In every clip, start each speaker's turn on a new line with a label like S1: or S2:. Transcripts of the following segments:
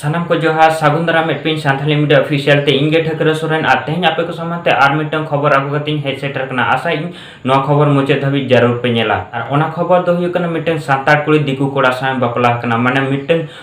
S1: ᱥᱟᱱᱟᱢ ᱠᱚ ᱡᱚᱦᱟᱨ ᱥᱟᱹᱜᱩᱱ ᱫᱟᱨᱟᱢ ᱢᱤᱫᱴᱤᱱ ᱥᱟᱱᱛᱟᱞᱤ ᱢᱤᱰᱤᱭᱟ ᱚᱯᱷᱤᱥᱤᱭᱟᱞ ᱛᱮ ᱤᱧ ᱜᱮ ᱴᱷᱟᱹᱠᱨᱟᱹ ᱥᱚᱨᱮᱱ ᱟᱨ ᱛᱮᱦᱮᱧ ᱟᱯᱮ ᱠᱚ ᱥᱟᱢᱟᱝ ᱛᱮ ᱟᱨ ᱢᱤᱫᱴᱟᱝ ᱠᱷᱚᱵᱚᱨ ᱟᱹᱜᱩ ᱠᱟᱛᱮᱧ ᱦᱮᱡ ᱥᱮᱴᱮᱨ ᱠᱟᱱᱟ ᱟᱥᱟ ᱤᱧ ᱱᱚᱣᱟ ᱠᱷᱚᱵᱚᱨ ᱢᱩᱪᱟᱹᱫ ᱫᱷᱟᱹᱵᱤᱡ ᱡᱟᱹᱨᱩᱲ ᱯᱮ ᱧᱮᱞᱟ ᱟᱨ ᱚᱱᱟ ᱠᱷᱚᱵᱚᱨ ᱫᱚ ᱦᱩᱭᱩᱜ ᱠᱟᱱᱟ ᱢᱤᱫᱴᱟᱝ ᱥᱟᱱᱛᱟᱲ ᱠᱩᱲᱤ ᱫᱤᱠᱩ ᱠᱚᱲᱟ ᱥᱟᱶ ᱵᱟᱯᱞᱟ ᱟᱠᱟᱱᱟ ᱢᱟᱱᱮ ᱢᱤᱫᱴᱟᱝ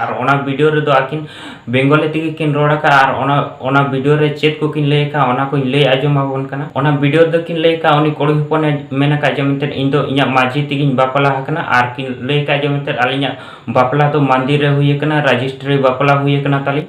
S2: ᱟᱨ ᱚᱱᱟ
S1: ᱵᱷᱤᱰᱤᱭᱳ ᱨᱮᱫᱚ ᱟᱹᱠᱤᱱ ᱵᱮᱝᱜᱚᱞᱤ ᱛᱮᱜᱮ ᱠᱤᱱ ᱨᱚᱲ ᱟᱠᱟᱫᱼᱟ ᱟᱨ ᱚᱱᱟ ᱚᱱᱟ ᱵᱷᱤᱰᱤᱭᱳ ᱨᱮ ᱪᱮᱫ ᱠᱚᱠᱤᱱ ᱞᱟᱹᱭ ᱟᱠᱟᱫᱼᱟ ᱚᱱᱟ ᱠᱚᱧ ᱞᱟᱹᱭ ᱟᱸᱡᱚᱢ ᱟᱵᱚᱱ ᱠᱟᱱᱟ ᱚᱱᱟ ᱵᱷᱤᱰᱤᱭᱳ ᱨᱮᱫᱚ ᱠᱤᱱ ᱞᱟᱹᱭ ᱟᱠᱟᱫᱼᱟ ᱩᱱᱤ ᱠᱩᱲᱤ ᱦᱚᱯᱚᱱᱮ ᱢᱮᱱ ᱟᱠᱟᱫ ᱡᱮ ᱢᱮᱱᱛᱮ ᱤᱧ ᱫᱚ ᱤᱧᱟᱹᱜ ᱢᱟᱺᱡᱷᱤ ᱛᱮᱜᱮᱧ ᱵᱟᱯᱞᱟ ᱟᱠᱟᱱᱟ ᱟᱨ ᱠᱤᱱ ᱞᱟᱹᱭ ᱟᱠᱟᱫᱼᱟ ᱡᱮ ᱢᱮᱱᱛᱮ ᱟᱹᱞᱤᱧᱟᱜ ᱵᱟᱯᱞᱟ ᱫᱚ ᱢᱚᱱᱫᱤᱨ ᱨᱮ ᱦᱩᱭ ᱟᱠᱟᱱᱟ ᱨᱟᱡᱤᱥᱴᱨᱤ ᱵᱟᱯᱞᱟ ᱦᱩᱭ ᱟᱠᱟᱱᱟ ᱛᱟᱹᱞᱤᱧ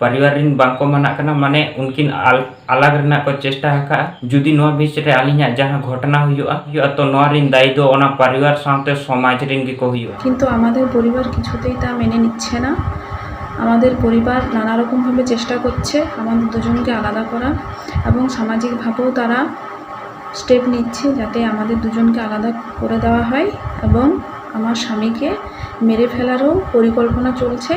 S1: ᱯᱟᱨᱤᱣᱟᱨ ᱨᱤᱱ ᱵᱟᱝ ᱠᱚ ᱢᱟᱱᱟᱜ ᱠᱟᱱᱟ ᱢᱟᱱᱮ ᱩᱱᱠᱤᱱ ᱟᱞᱟᱜ ᱨᱮᱱᱟᱜ ᱠᱚ ᱪᱮᱥᱴᱟ ᱟᱠᱟᱫᱼᱟ ᱡᱩᱫᱤ ᱱᱚᱣᱟ ᱵᱤᱪ ᱨᱮ ᱟᱹᱞᱤᱧᱟᱜ ᱡᱟᱦᱟᱸ ᱜᱷᱚᱴᱚᱱᱟ ᱦᱩᱭᱩᱜᱼᱟ ᱦᱩᱭᱩᱜᱼᱟ ᱛᱚ ᱱᱚᱣᱟ ᱨᱤᱱ ᱫᱟᱭᱤ ᱫᱚ ᱚᱱᱟ ᱯᱟᱨᱤᱣᱟᱨ ᱥᱟᱶᱛᱮ ᱥᱚᱢᱟᱡᱽ ᱨᱤᱱ ᱜᱮ ᱠᱚ ᱦᱩᱭᱩᱜᱼᱟ ᱠᱤᱱᱛᱩ ᱟᱢᱟᱫᱮᱨ ᱯᱚᱨᱤᱵᱟᱨ
S3: ᱠᱤᱪᱷᱩᱛᱮᱭ ᱛᱟ ᱢᱮᱱᱮ ᱱᱤᱪᱷᱮ ᱱᱟ ᱟᱢᱟᱫᱮᱨ ᱯᱚᱨᱤᱵᱟᱨ ᱱᱟᱱᱟ ᱨᱚᱠᱚᱢ ᱵᱷᱟᱵᱮ ᱪᱮᱥᱴᱟ ᱠᱚᱨᱪᱷᱮ ᱟᱢᱟᱫᱮᱨ ᱫᱩᱡᱚᱱ ᱜᱮ ᱟᱞᱟᱫᱟ ᱠᱚᱨᱟ ᱮᱵᱚᱝ ᱥᱟᱢᱟᱡᱤᱠ ᱵᱷᱟᱵᱮᱣ ᱛᱟᱨᱟ ᱥᱴᱮᱯ ᱱᱤᱪᱷᱮ ᱡᱟᱛᱮ ᱟᱢᱟᱫᱮᱨ ᱫᱩᱡᱚᱱ ᱜᱮ ᱟᱞᱟᱫᱟ ᱠᱚᱨᱮ ᱫᱮᱣᱟ ᱦᱚᱭ ᱮᱵᱚᱝ ᱟᱢᱟᱨ ᱥᱟᱢᱤ ᱠᱮ ᱢᱮᱨᱮ ᱯᱷᱮᱞᱟᱨ ᱦᱚᱸ ᱯᱚᱨᱤᱠᱚᱞᱯᱚᱱᱟ ᱪᱚᱞᱪᱷᱮ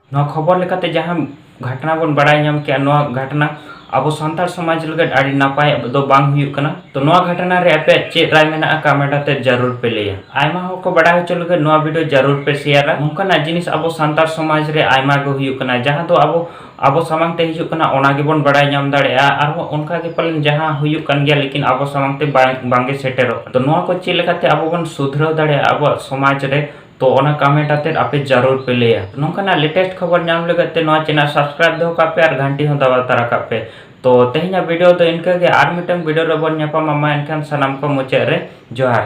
S3: ᱱᱚᱣᱟ ᱠᱷᱚᱵᱚᱨ ᱞᱮᱠᱟᱛᱮ
S1: ᱡᱟᱦᱟᱸ ᱜᱷᱟᱴᱱᱟ ᱵᱚᱱ ᱵᱟᱲᱟᱭ ᱧᱟᱢ ᱠᱮᱜᱼᱟ ᱱᱚᱣᱟ ᱜᱷᱟᱴᱱᱟ ᱟᱵᱚ ᱥᱟᱱᱛᱟᱲ ᱥᱚᱢᱟᱡᱽ ᱞᱟᱹᱜᱤᱫ ᱟᱹᱰᱤ ᱱᱟᱯᱟᱭ ᱫᱚ ᱵᱟᱝ ᱦᱩᱭᱩᱜ ᱠᱟᱱᱟ ᱛᱚ ᱱᱚᱣᱟ ᱜᱷᱟᱴᱱᱟ ᱨᱮ ᱟᱯᱮᱭᱟᱜ ᱪᱮᱫ ᱨᱟᱭ ᱢᱮᱱᱟᱜᱼᱟ ᱠᱟᱢᱮᱱᱴ ᱟᱛᱮ ᱡᱟᱹᱨᱩᱲ ᱯᱮ ᱞᱟᱹᱭᱟ ᱟᱭᱢᱟ ᱦᱚᱲ ᱠᱚ ᱵᱟᱲᱟᱭ ᱦᱚᱪᱚ ᱞᱟᱹᱜᱤᱫ ᱱᱚᱣᱟ ᱵᱷᱤᱰᱤᱭᱳ ᱡᱟᱹᱨᱩᱲ ᱯᱮ ᱥᱮᱭᱟᱨᱟ ᱱᱚᱝᱠᱟᱱᱟᱜ ᱡᱤᱱᱤᱥ ᱟᱵᱚ ᱥᱟᱱᱛᱟᱲ ᱥᱚᱢᱟᱡᱽ ᱨᱮ ᱟᱭᱢᱟ ᱜᱮ ᱦᱩᱭᱩᱜ ᱠᱟᱱᱟ ᱡᱟᱦᱟᱸ ᱫᱚ ᱟᱵᱚ ᱟᱵᱚ ᱥᱟᱢᱟᱝ ᱛᱮ ᱦᱤᱡᱩᱜ ᱠᱟᱱᱟ ᱚᱱᱟ ᱜᱮᱵᱚᱱ ᱵᱟᱲᱟᱭ ᱧᱟᱢ ᱫᱟᱲᱮᱭᱟᱜᱼᱟ ᱟᱨᱦᱚᱸ ᱚᱱᱠᱟ ᱜᱮ ᱯᱟᱞᱮᱱ ᱡᱟᱦᱟᱸ ᱦᱩᱭᱩᱜ ᱠᱟᱱ ᱜᱮᱭᱟ ᱞᱮᱠᱤᱱ ᱟᱵᱚ ᱥᱟᱢᱟᱝ ᱛᱮ ᱵᱟᱝ ᱵᱟᱝᱜᱮ ᱥᱮᱴᱮᱨᱚᱜ ᱠᱟᱱᱟ ᱛᱚ ᱱᱚᱣᱟ ᱠᱚ ᱪᱮᱫ ᱞᱮᱠᱟᱛᱮ ᱟᱵᱚ ᱵᱚᱱ ᱥᱩᱫᱷᱨᱟᱹᱣ ᱫᱟᱲᱮᱭᱟᱜᱼᱟ ᱟᱵᱚᱣᱟᱜ ᱥᱚᱢᱟᱡᱽ ᱨᱮ ᱛᱚ ᱚᱱᱟ ᱠᱟᱢᱮᱱᱴ ᱟᱛᱮᱫ ᱟᱯᱮ ᱡᱟᱨᱩᱨ ᱯᱮ ᱞᱟᱹᱭᱟ ᱱᱚᱝᱠᱟᱱᱟᱜ ᱞᱮᱴᱮᱥᱴ ᱠᱷᱚᱵᱚᱨ ᱧᱟᱢ ᱞᱟᱹᱜᱤᱫ ᱛᱮ ᱱᱚᱣᱟ ᱪᱮᱱᱮᱞ ᱥᱟᱵᱥᱠᱨᱟᱭᱤᱵ ᱫᱚᱦᱚ ᱠᱟᱜ ᱯᱮ ᱟᱨ ᱜᱷᱟᱱᱴᱤ ᱦᱚᱸ ᱫᱟᱵᱟᱣ ᱛᱟᱨᱟ ᱠᱟᱜ ᱯᱮ ᱛᱚ ᱛᱮᱦᱮᱧᱟᱜ ᱵᱷᱤᱰᱤᱭᱳ ᱫᱚ ᱤᱱᱠᱟᱹ ᱜᱮ ᱟᱨ ᱢᱤᱫᱴᱟᱝ ᱵᱷᱤᱰᱤᱭᱳ ᱨᱮ ᱵᱚᱱ ᱧᱟᱯᱟᱢᱟ ᱢᱟ ᱮᱱᱠᱷᱟᱱ ᱥᱟᱱᱟᱢ ᱠᱚ ᱢᱩᱪᱟᱹᱫ ᱨᱮ ᱡᱚᱦᱟᱨ